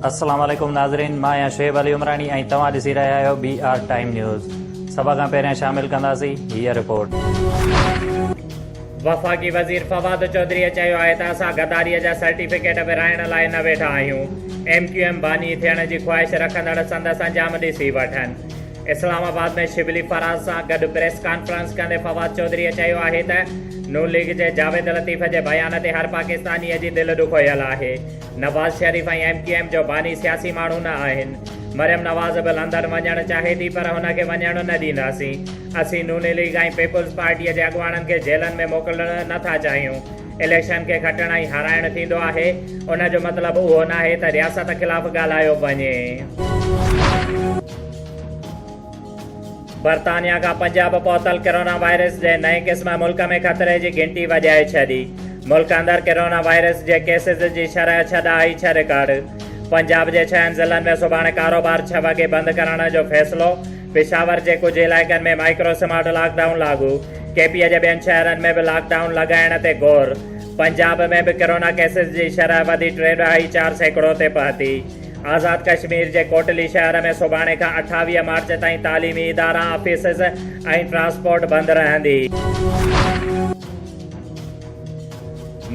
السلام عليڪم ناظرين مان آهيان شعيب علي عمراڻي ۽ توهان ڏسي رهيا آهيو بي آر ٽائيم نيوز سڀ کان پهريان شامل ڪنداسين هي رپورٽ وفاقي وزير فواد چوڌري چيو آهي ته اسان غداري جا سرٽيفڪيٽ ورهائڻ لاء نه ويٺا آهيون ايم ڪيو ايم باني ٿيڻ جي خواهش رکندڙ سندس انجام ڏسي وٺن اسلام آباد ۾ شبلي فراز سان گڏ پريس ڪانفرنس ڪندي فواد چوڌريء چيو آهي ته ن ليگ جي جاويد لطيف جي بيان تي هر پاڪستانيء جي دل ڏکويل آهي، Nawaz Sharif ۽ M Q M جو باني سياسي ماڻهو نه آهن، مريم نواز به لندن وڃڻ چاهي ٿي پر هن کي وڃڻ نه ڏينداسين، اسين ن ليگ ۽ پيپلز پارٽيء جي اڳواڻن کي جيلن ۾ موڪلڻ نه ٿا چاهيون. اليڪشن کي کٽڻ ۽ هارائڻ ٿيندو آهي، ان جو مطلب اهو ناهي ته رياست خلاف ڳالهايو وڃي. برطانيا کان پنجاب پهتل ڪرونا وائرس جي نئين قسم ملڪ ۾ خطري جي گهنٽي وڄائي ڇڏي، ملڪ اندر ڪرونا وائرس جي ڪيسز جي شرح ڇهه ڏانهن آئي ڇهه رڪارڊ، پنجاب جي ڇهن ضلعن ۾ سڀاڻي ڪاروبار ڇهه وڳي بند ڪرڻ جو فيصلو، پشاور جي ڪجهه علائقن ۾ مائيڪرو سمارٽ لاڪ ڊائون لاڳو، ڪي پي جي ٻين شهرن ۾ به لاڪ ڊائون لڳائڻ تي غور، پنجاب ۾ به ڪرونا ڪيسز جي شرح وڌي ٽي ڏهائي چار سيڪڙو تي پهتي، آزاد ڪشمير جي ڪوٽلي شهر ۾ سڀاڻي کان اٺاويهه مارچ تائين تعليمي ادارا، آفيسز ۽ ٽرانسپورٽ بند رهندي.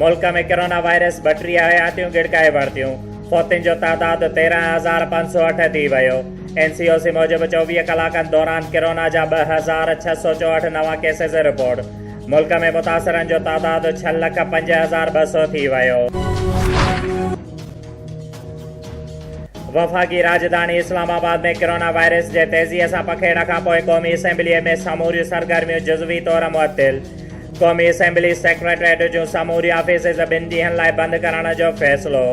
ملڪ ۾ ڪرونا وائرس ٻٽيهه حياتيون ڳڙڪائي ورتيون، فوتين جو تعداد تيرهن هزار پنج سؤ اٺ ٿي ويو. اين سي او سي موجب چوويهه ڪلاڪن دوران ڪرونا جا ٻه هزار ڇهه سؤ چوهٺ نوان ڪيسز رپورٽ، ملڪ ۾ متاثرن جو تعداد ڇهه لک پنج هزار ٻه سؤ ٿي ويو. وفاقي راڄڌاڻي اسلام آباد ۾ ڪرونا وائرس جي تيزيء سان پکيڙڻ کانپوء قومي اسيمبليء ۾ سموريون سرگرميون جزوي طور معطل، قومي اسيمبلي سيڪريٽريٽ جون سموريون آفيسز ٻن ڏينهن لاء بند ڪرڻ جو فيصلو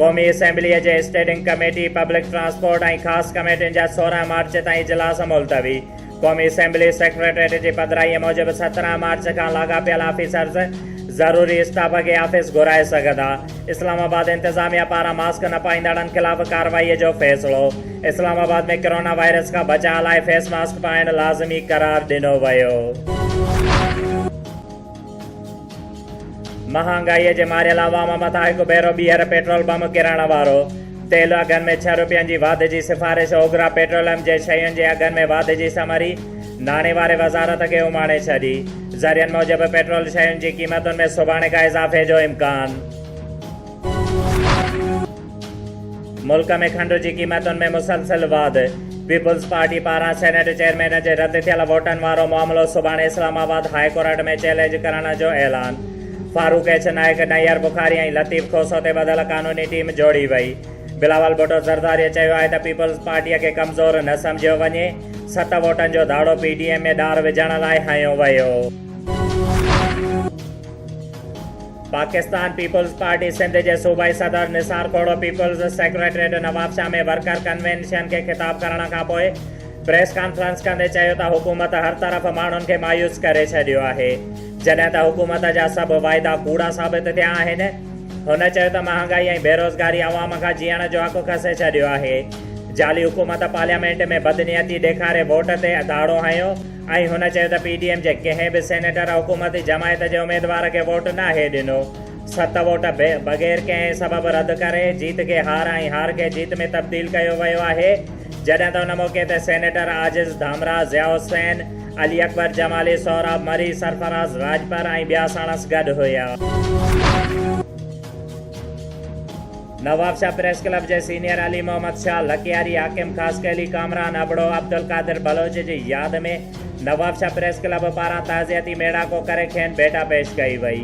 قومي اسيمبلي جي اسٽيڊنگ ڪميٽي پبلڪ ٽرانسپورٽ ۽ خاص ڪميٽين جا سورهن مارچ تائين اجلاس ملتوي قومي اسيمبلي سيڪريٽريٽ جي پڌرائي موجب سترهن مارچ کان لاڳاپيل آفيسرز ضروري اسٽاف کي آفيس گهرائي سگهندا. اسلام آباد انتظاميا پاران ماسڪ نه پائيندڙن خلاف ڪارروائي جو فيصلو، اسلام آباد ۾ ڪرونا وائرس کان بچاء لاء فيس ماسڪ پائڻ لازمي قرار ڏنو ويو. مهانگائي جي ماريل عوام مٿان هڪ ڀيرو ٻيهر پيٽرول بم ڪرڻ وارو، تيل اگهن ۾ ڇهه روپين جي واڌ جي سفارش، اوگرا پيٽروليم جي شين جي اگهن ۾ واڌ جي سمري، ناڻي واري وزارت کي اماڻي ڇڏي. ذريعن موجب پيٽرول شين جي قيمتن ۾ سڀاڻي کان اضافي جو امڪان. ملڪ ۾ کنڊ جي قيمتن ۾ مسلسل واڌ، پيپلز پارٽي پاران سينيٽ چيئرمين جي رد ٿيل ووٽن وارو معاملو سڀاڻي Islamabad high court ۾ challenge ڪرڻ جو اعلان، فاروق ايڇ نائيڪ، نيئر بخاري ۽ لطيف کوسو تي ٻڌل قانوني ٽيم جوڙي وئي، بلاول ڀٽو زرداريء چيو آهي ته پيپلز پارٽيء کي ڪمزور نه سمجهيو وڃي، ست ووٽن جو ڌاڙو پي ڊي ايم ۾ ڏار وجهڻ لاء هنيو ويو. پاڪستان پيپلز پارٽي سنڌ جي صوبائي صدر Nisar Khuhro Peoples secretariat Nawabshah ۾ worker convention کي خطاب ڪرڻ کان پوء پريس ڪانفرنس ڪندي چيو ته حڪومت هر طرف ماڻهن کي مايوس ڪري ڇڏيو آهي جڏهن ته حڪومت جا سڀ واعدا ڪوڙا ثابت ٿيا آهن. هن چيو ته مهانگائي ۽ بيروزگاري عوام کان جيئڻ جو حق کسي ڇڏيو آهي. جعلي حڪومت پارليامينٽ ۾ بدنيتي ڏيکاري ووٽ تي ڌاڙو هنيو ۽ هن چيو ته پي ڊي ايم جي ڪنهن به سينيٽر حڪومتي جماعت جي اميدوار کي ووٽ ناهي ڏنو. ست ووٽ بغير ڪنهن سبب رد ڪري جيت کي هار ۽ هار کي جيت ۾ تبديل ڪيو ويو آهي. جڏهن ته ان موقعي تي سينيٽر عاجز ڌامراء، ضياء حسين، علي اڪبر جمالي، سهراب مري، سرفراز راڄپر ۽ ٻيا ساڻس گڏ هيا. نوابشاهه پريس ڪلب جي سينيئر علي محمد شاهه لڪياري، حاڪم خاصخيلي، ڪامران ابڙو، عبدالقادر بلوچ جي ياد ۾ نوابشاهه پريس ڪلب پاران تعزيتي ميڙاڪو ڪري کين ڀيٽا پيش ڪئي وئي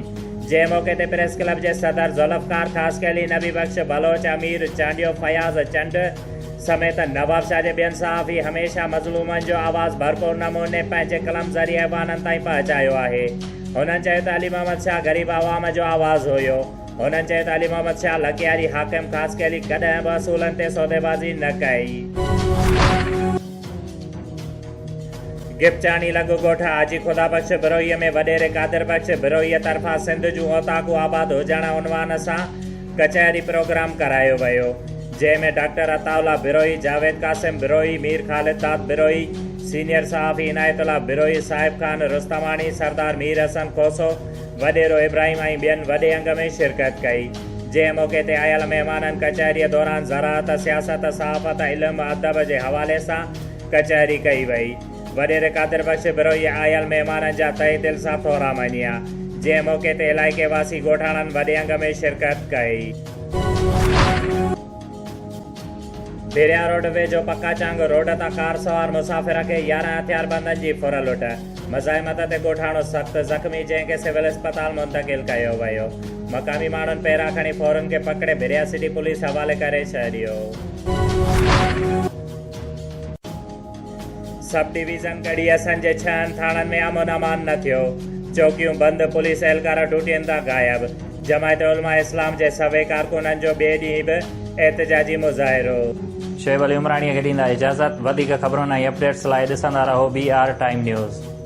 جنهن موقعي تي پريس ڪلب جي صدر ذوالفقار خاصخيلي، نبي بخش بلوچ، امير چانڊيو، فياض چنڊ، سميت نوابشاهه جي ٻين صحافي هميشه مظلومن جو آواز ڀرپور نموني پنهنجي قلم ذريعي عوانن تائين پهچايو آهي. هنن چيو ته علي محمد شاهه غريب عوام جو آواز هيو. هنن چيو ته علي محمد شاهه لڪياري حاڪم خاصخيلي علي ڪڏهن به اصولن تي سوديبازي نه ڪئي. گپچاڻي لڳ ڳوٺ حاجي خدا بخش بروهيء ۾ وڏيري قادر بخش بروهيء طرفان سنڌ جون اوطاقون آباد هجڻ عنوان سان ڪچهري پروگرام ڪرايو ويو جنهن ۾ ڊاڪٽر عطاء الله بروهي، جاويد قاسم بروهي، مير خالد داد بروهي، سينيئر صحافي عنايت الله بروهي، صاحب خان رستماڻي، سردار مير حسن کوسو، وڏيرو ابراهيم ۽ ٻين وڏي انگ ۾ شرڪت ڪئي. جنهن موقعي تي آيل مهمانن ڪچهريء دوران زراعت، سياست، صحافت، علم، ادب جي حوالي سان ڪچهري ڪئي وئي. وڏيري قادر بخش بروهي آيل مهمانن جا تهه دل سان ٿورا مڃيا، جنهن موقعي تي علائقي واسي ڳوٺاڻن وڏي انگ ۾ شرڪت ڪئي. ڀيريا روڊ ويجهو پڪا چانگ روڊ تان ڪار سوار مسافر کي يارهن هٿياربندن جي ڦر لٽ مزاحمت تي ڳوٺاڻو سخت زخمي جنهن کي سول اسپتال منتقل ڪيو ويو مقامي ماڻهن پيرا کڻي ڦورن کي پڪڙي ڀيريا سٽي پوليس حوالي ڪري ڇڏيو. سب ڊويزن ڳڙهي اسنجي ڇهن ٿاڻن ۾ امن امان نه ٿيو، چوڪيون بند، پوليس اهلڪار ڊوٽين تان غائب، جماعت علماء اسلام جي سوين ڪارڪنن جو ٻئي ڏينهن به احتجاجي مظاهرو. شعيب علي عمراڻيء کي ڏيندا اجازت. وڌيڪ خبرن ۽ اپڊيٽس لاء ڏسندا رهو بي آر ٽائيم نيوز.